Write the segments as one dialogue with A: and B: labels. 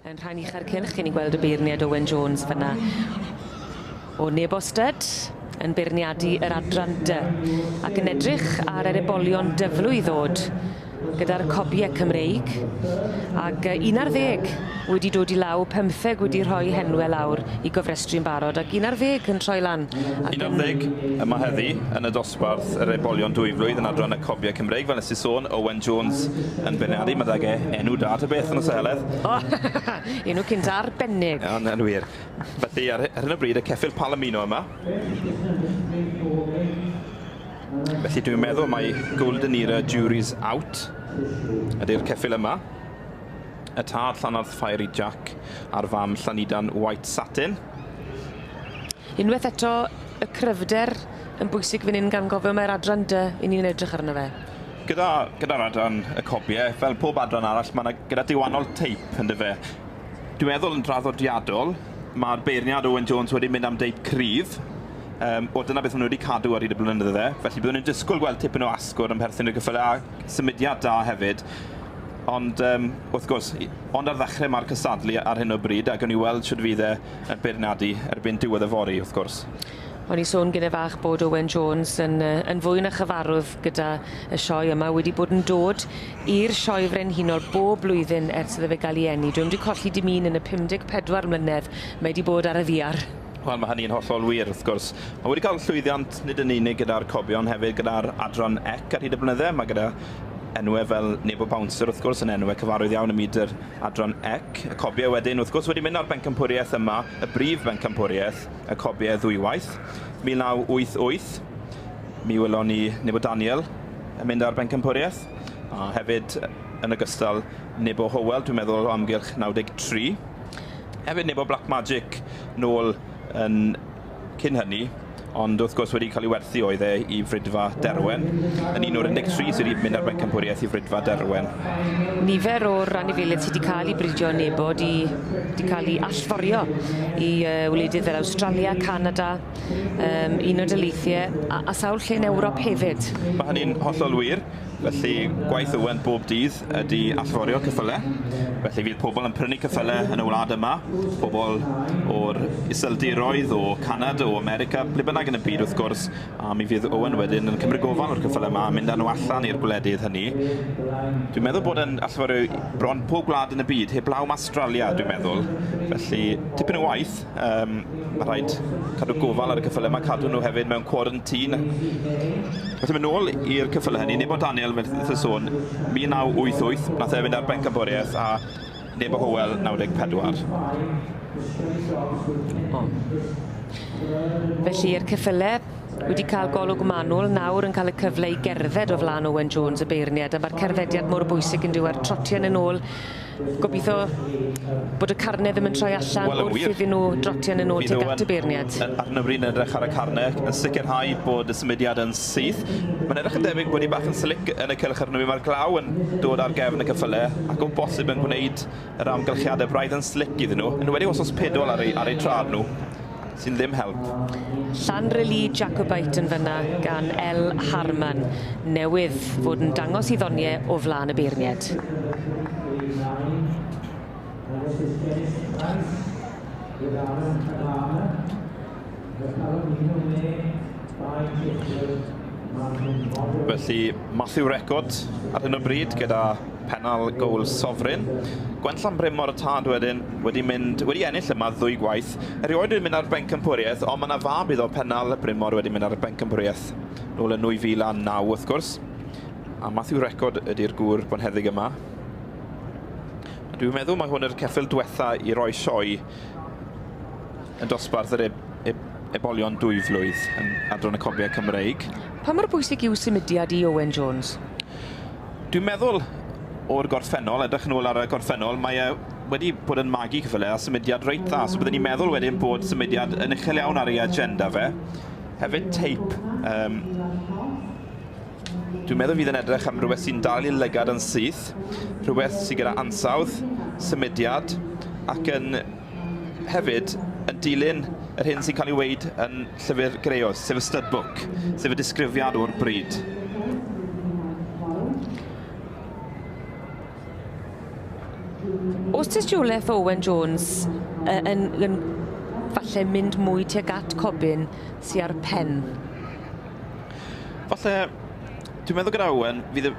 A: Yn rhan uchau'r cylch, chi'n ni'n gweld y beirniad Owen Jones fyna. O neb ostad, yn beirniadu yr adran dy, ac yn edrych ar yr ebolion dyflu i ddod gyda'r cobiau Cymreig. Ac un ar ddeg wedi dod i law, pymtheg wedi rhoi henwe lawr i gofrestru'n barod ac un ar ddeg yn troi lan ac yn... Un ar ddeg
B: yma heddi yn y dosbarth yr oedbolion dwyflwydd yn adran y cofiau Cymreig fel nes i sôn, Owen Jones yn benaru, ma dage enw da ta beth yn y seheledd. O! Enw
A: cynt arbennig. Yn yn wir.
B: Felly ar ar hyn o bryd y ceffyl Palomino yma. Felly dwi'n meddwl mai Golden Era Jury's Out ydi'r ceffyl yma. Y tad llanarth Fiery Jack a'r fam Llanidan White Satin.
A: Unwaith eto, y cryfder yn bwysig fan hyn gan gofio mae'r adran dy i ni'n edrych arno fe. Gyda, gyda'r
B: adran y cobiau, fel pob adran arall, mae yna gyda diwannol teip yn dyfe. Dwi'n meddwl yn draddodiadol, mae'r beirniad Owen Jones wedi mynd am deip cryf, um, o dyna beth maen nhw wedi cadw ar hyd y blynydde, felly byddwn ni'n disgwyl gweld tipyn o asgwrn yn perthyn i'r gyffylau a symudiad da hefyd. Ond yym, wrth gwrs, i- ond ar ddechrau mae'r cystadlu ar hyn o bryd a gawn ni weld shwt fydd e yn beirniadu erbyn diwedd y fory, wrth gwrs. O'n i'n sôn
A: gyne fach bod Owen Jones yn yy yn fwy na chyfarwdd gyda y sioe yma, wedi bod yn dod i'r Sioe Frenhinol bob blwyddyn ers iddo fe ga'l 'i eni. Dw'm 'di colli dim un yn y 54 mlynedd mae 'di bod ar y ddiar. Wel, mae hynny'n hollol
B: wir, wrth gwrs. Mae wedi cael llwyddiant nid yn unig gyda'r cobion, hefyd gyda'r adran ec ar hyd y blynydde. Mae gyda enwe fel Nebo Bouncer wrth gwrs yn enwe cyfarwydd iawn ym myd yr adran ec. Y cobiau wedyn wrth gwrs wedi mynd ar bencampwriaeth yma, y brif bencampwriaeth, y cobiau ddwywaith. 1988, mi wylon ni Nebo Daniel yn mynd ar bencampwriaeth, a hefyd yn ogystal Nebo Howell, dwi'n meddwl o amgylch 93. Hefyd Nebo Black Magic nôl yn cyn hynny, ond wrth gwrs wedi cael ei werthu oedd e i Frydfa Derwen, yn un o'r 13 sydd wedi mynd â'r Bencampwriaeth i Frydfa Derwen. Nifer
A: o'r anifeiliaid sydd wedi cael eu bridio nebo wedi cael eu allforio i wledydd fel Awstralia, Canada, um, Unol Daleithiau a, a sawl lle yn Ewrop hefyd. Mae hynny'n hollol
B: wir, felly gwaith Owen bob dydd ydy allforio ceffylau, felly fydd pobl yn prynu ceffylau yn y wlad yma, pobl o'r Iseldiroedd, o Canada, o America, ble bynnag yn y byd wrth gwrs, a mi fydd Owen wedyn yn cymryd gofal o'r ceffylau yma a mynd â nhw allan i'r gwledydd hynny. Dwi'n meddwl bod yn allforio bron pob gwlad yn y byd, heblaw am Astralia dwi'n meddwl, felly tipyn o waith. Um, mae rhaid cadw gofal ar y cyffylau yma, cadw nhw hefyd mewn quarantine. Felly mae'n ôl i'r cyffylau hynny, Nebo Daniel, mae'n y sôn, 1988, nath e fynd ar benc boriaeth a Nebo Howell, 94. O.
A: Felly, i'r cyffylau wedi cael golwg manwl, nawr yn cael y cyfle i gerdded o flaen Owen Jones y beirniad, a mae'r cerddediad mor bwysig yn diwedd trotian yn ôl Gobitho bod y carne ddim yn troi allan Wel yn wir. wrth iddyn nhw drotio yn y nod tuag at y beirniad. Yn, yn, ar hyn o bryd yn edrych ar
B: y carne, yn sicrhau bod y symudiad yn syth. Mae'n edrych yn debyg bod hi bach yn slic yn y cylch ar hyn o bryd. Mae'r glaw yn dod ar gefn y cyffyle ac o bosib yn gwneud yr amgylchiadau braidd yn slic iddyn nhw, yn enwedig os oes pedol ar eu, ar eu traed nhw. sy'n ddim help. Llanrili
A: Jacobite yn fynna gan El Harman newydd fod yn dangos i ddonie o flan y beirnied.
B: Felly Matthew Record ar hyn o bryd gyda pennal goal Sovereign. Gwenllan Bryn Mor y Tad wedyn wedi mynd wedi ennill yma ddwy gwaith. Ffyrdd. Erioed wedi mynd ar bencampwriaeth, ond mae 'na fab iddo, Pennal Brynmor, wedi mynd ar bencampwriaeth nôl yn 2009, wrth gwrs. A Matthew Record ydy'r gŵr bonheddig yma. A dwi'n meddwl mae hwn yr ceffyl diwetha i roi sioe yn dosbarth yr eb eb ebolion dwy flwydd yn Adran y Cofiau Cymreig. Pa mor bwysig
A: yw symudiad i Owen Jones?
B: Dwi'n meddwl o'r gorffennol, edrych yn ôl ar y gorffennol, mae e wedi bod yn magu ceffylau a symudiad reit dda, so bydden i'n meddwl wedyn bod symudiad yn uchel iawn ar ei agenda fe. Hefyd teip. Um, dwi'n meddwl fydd yn edrych am rhywbeth sy'n dal i lygad yn syth, rhywbeth sy'n gyda ansawdd, symudiad, ac yn hefyd yn dilyn yr hyn sy'n cael ei weid yn llyfr Greos, sef y stud book, sef y disgrifiad o'r bryd.
A: Os tystioleth Owen Jones yy yn yn falle mynd mwy tuag at Corbyn sy ar pen? Falle
B: dwi'n meddwl gyda Owen fydd y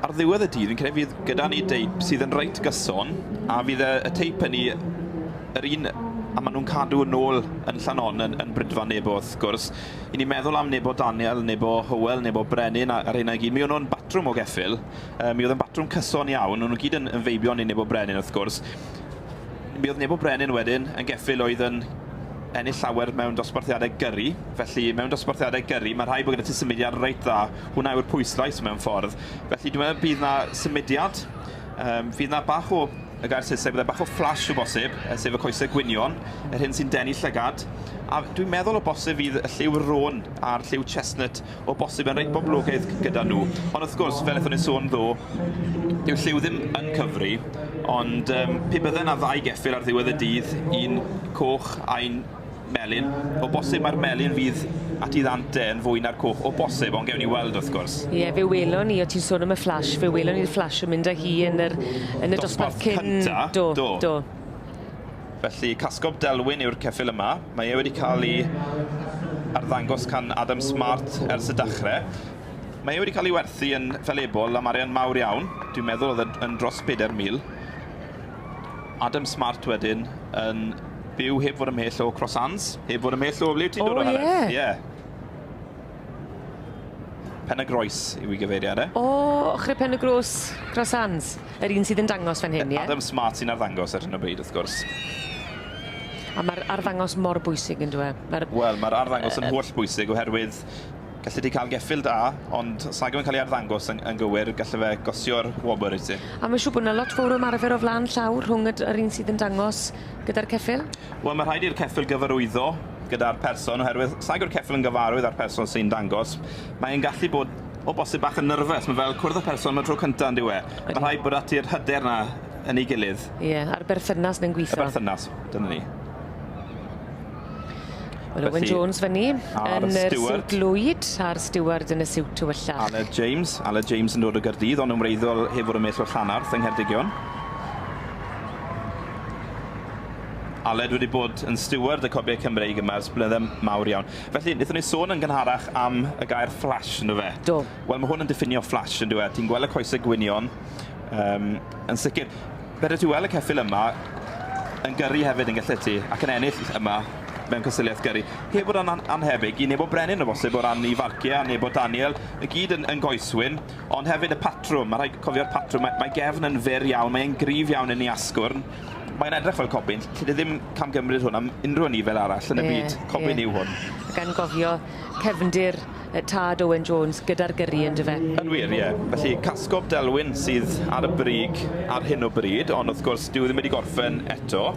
B: ar ddiwedd y dydd fi'n credu fydd gyda ni deip sydd yn reit gyson a fydd y, y teip yn ni yr un a maen nhw'n cadw yn ôl yn Llanon yn, yn Brydfa Nebo wrth gwrs. I ni meddwl am Nebo Daniel, Nebo Hywel, Nebo Brenin a'r hynna i gyd. Mi o'n nhw'n batrwm o geffyl Mi oedd yn batrwm cyson iawn, o'n nhw gyd yn, yn feibion i Nebo Brenin wrth gwrs. Mi oedd Nebo Brenin wedyn yn geffyl oedd yn ennill llawer mewn dosbarthiadau gyrru, felly mewn dosbarthiadau gyrru mae rhai bod gyda ti symudiad reit dda, hwnna yw'r pwyslais mewn ffordd. Felly dwi'n meddwl bydd na symudiad, um, fydd na bach o y gair Saesneg, byddai bach o flash o bosib, sef y coesau gwynion, yr hyn sy'n denu llygad. A dwi'n meddwl o bosib fydd y lliw rôn a'r lliw chestnut O bosib yn reit boblogaidd gyda nhw. Ond wrth gwrs, fel ethon ni'n sôn ddo, dyw lliw ddim yn cyfri, ond um, pe bydde yna ddau geffyl ar ddiwedd y dydd, un coch a un melyn, o bosib mae'r melyn fydd at i ddant e yn fwy na'r coch, o bosib, ond gewn ni weld wrth gwrs. Ie, fe welon ni,
A: o ti'n sôn am y fflash, fe welon ni'r fflash yn mynd â hi yn, yr, yn y dosbarth, dosbarth cyn... Cynta, do. do. do.
B: Felly, Casgob Delwyn yw'r ceffyl yma. Mae e wedi cael ei arddangos can Adam Smart ers y dachrau. Mae e wedi cael ei werthu yn felebol am arian mawr iawn. Dwi'n meddwl oedd e yn dros 4,000. Adam Smart wedyn yn byw heb fod ymhell o Crossans, heb fod ymhell o ble ti'n dod o, Helen? O, ie. Ie. Pen y Groes yw i gyfeiriad e. O, ochr
A: Pen y Gros, Cross Hands. Yr un sydd yn dangos fan hyn, ie? Adam Smart sy'n arddangos
B: ar hyn o bryd, wrth gwrs.
A: A mae'r arddangos mor bwysig yn dweud. E? Mae'r... Wel, mae'r arddangos
B: yn holl bwysig oherwydd gallu di cael geffil da, ond os nag yw'n cael ei arddangos yn, yn gywir, gallu fe gosio'r wobr i ti. A mae'n siŵr bod yna lot fawr o
A: ymarfer o flaen llawr rhwng yr un sydd yn dangos gyda'r ceffyl? Wel, mae rhaid i'r ceffyl
B: gyfarwyddo gyda'r person oherwydd os nag yw'r ceffyl yn gyfarwydd â'r person sy'n dangos, mae e'n gallu bod o bosib bach yn nyrfys. Mae fel cwrdd â person am y tro cynta, yndyw e? Odi. Mae rhaid bod ati'r hyder 'na yn ei gilydd. Ie, a'r berthynas
A: 'na'n gwitho. Y berthynas, dyna ni. Felly... Owen Jones fyn 'ny. A'r stiward. Yn yr siwt lwyd a'r stiward yn y siwt tywyllach. Aled James. Aled
B: James yn dod o Gaerdydd ond yn wreiddiol heb fod yn well o Llanarth yng Ngheredigion. Aled wedi bod yn stiward y Cobiau Cymreig yma ers blynydde mawr iawn. Felly, wnaethon ni sôn yn gynharach am y gair flash, ynddo fe? Do. Wel, mae hwn yn diffinio flash, yn dyw e? Ti'n gweld y coesau gwynion, um, yn sicr. Fedri ti weld y ceffyl yma yn gyrru hefyd yn gallet ti, ac yn ennill yma mewn cystadleuaeth gyrru. Heb fod yn annhebyg i Nebo Brenin o bosib o ran 'i farciau a Nebo Daniel i gyd yn yn goeswyn, ond hefyd y patrwm, ma' rhaid cofio'r patrwm, mae mae gefn yn fyr iawn, mae e'n gryf iawn yn 'i asgwrn, mae'n edrych fel cobyn, alli di ddim camgymryd hwn am unrhyw anifail arall yn y byd, cobyn yw hwn. Ie ie. Ac anghofio
A: cefndir yy tad Owen Jones gyda'r gyrru on'd yfe? Yn wir, ie. Felly,
B: casgob Delwyn sydd ar y brig ar hyn o bryd, ond wrth gwrs, dyw e ddim wedi gorffen eto.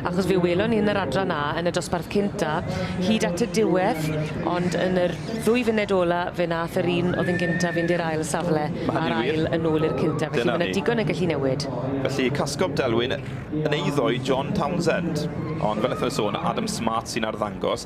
B: Achos fe
A: welon ni yn yr adran 'na, yn y dosbarth cynta, hyd at y diwedd, ond yn yr ddwy funud ola, fe nath yr un o'dd yn gynta fynd i'r ail safle, a'r ail yn ôl i'r cynta. Felly, ma' 'na digon yn gallu newid. Felly, casgob
B: Delwyn yn eiddo i John Townsend. Ond fel nethon ni sôn, Adam Smart sy'n arddangos.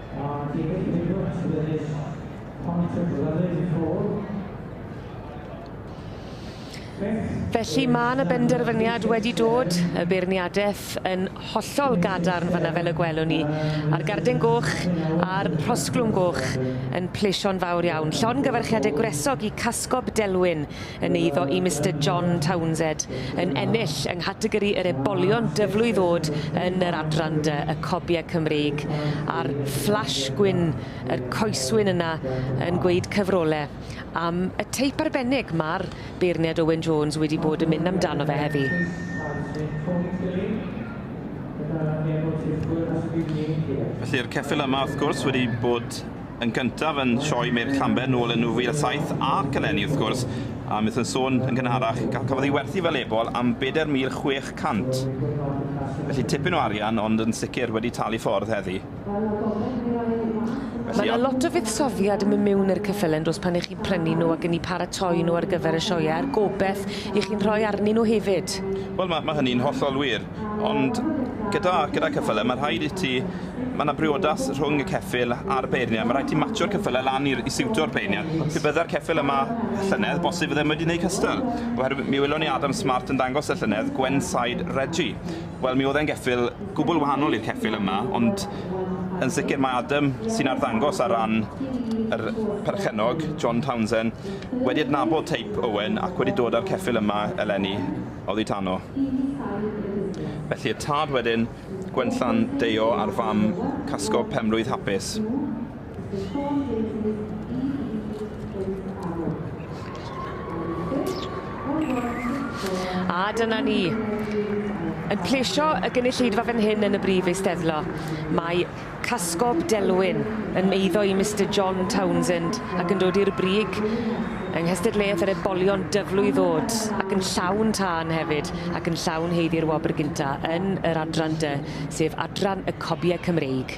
C: A David Gilbert sydd yn ennill pont y Gryfyn yn Rhôl.
A: Beth Felly mae 'na benderfyniad wedi dod, y beirniadaeth yn hollol gadarn fanna fel y gwelwn ni, a'r garden goch a'r rhosglwm goch yn plesio'n fawr iawn. Llongyfarchiade gwresog i Casgob Delwyn. yn eiddo i Mister John Townsed yn ennill yng nghategori yr ebolion dyflwydd ddod yn yr adran dy y cobiau Cymreig a'r fflash gwyn yr coeswyn yna yn gweud cyfrole am y teip arbennig ma'r beirniad Owen Jones wedi bod yn mynd amdano fe heddi.
B: Felly'r ceffyl yma wrth gwrs wedi bod yn gyntaf yn sioe Medd Llanber nôl yn 2007 ac eleni wrth gwrs, a beth yn sôn yn gynharach, cafodd ei werthu fel ebol am 4,600. Felly tipyn o arian ond yn sicr wedi talu ffordd heddi.
A: Mae 'na lot o fuddsoddiad yn mynd miwn i'r ceffylen does pan 'y chi'n prynu nhw ac yn 'u paratoi nhw ar gyfer y sioeau a'r gobeth 'y chi'n rhoi arnyn nhw hefyd. Wel ma' ma' hynny'n
B: hollol wir ond gyda gyda ceffylen ma' rhaid i ti Mae yna briodas rhwng y ceffyl a'r beirniad. Mae rhaid ti matsio'r cyffylau lan i, i siwto'r beirniad. Pe bydda'r ceffyl yma llynedd, bosib ddim wedi gwneud cystal. Oherwydd mi welon ni Adam Smart yn dangos y llynedd, Gwensaid Regi. Wel, mi oedd e'n geffyl gwbl wahanol i'r ceffyl yma, ond yn sicr mae Adam, sy'n arddangos ar ran yr perchennog, John Townsend, wedi adnabod teip Owen ac wedi dod â'r ceffyl yma eleni oddi tano. Felly y tad wedyn, Gwenllan Deio a'r fam casgo penblwydd hapus.
A: A dyna ni. Yn plesio y gynulleidfa fan hyn yn y Brif Eisteddlo. Mae Casgob Delwyn yn eiddo i Mister John Townsend ac yn dod i'r brig yng nghystadleuaeth yr ebolion dyflwy ddod ac yn llawn tân hefyd ac yn llawn haeddu i'r wobr gynta yn yr adran dy sef adran y cobiau Cymreig.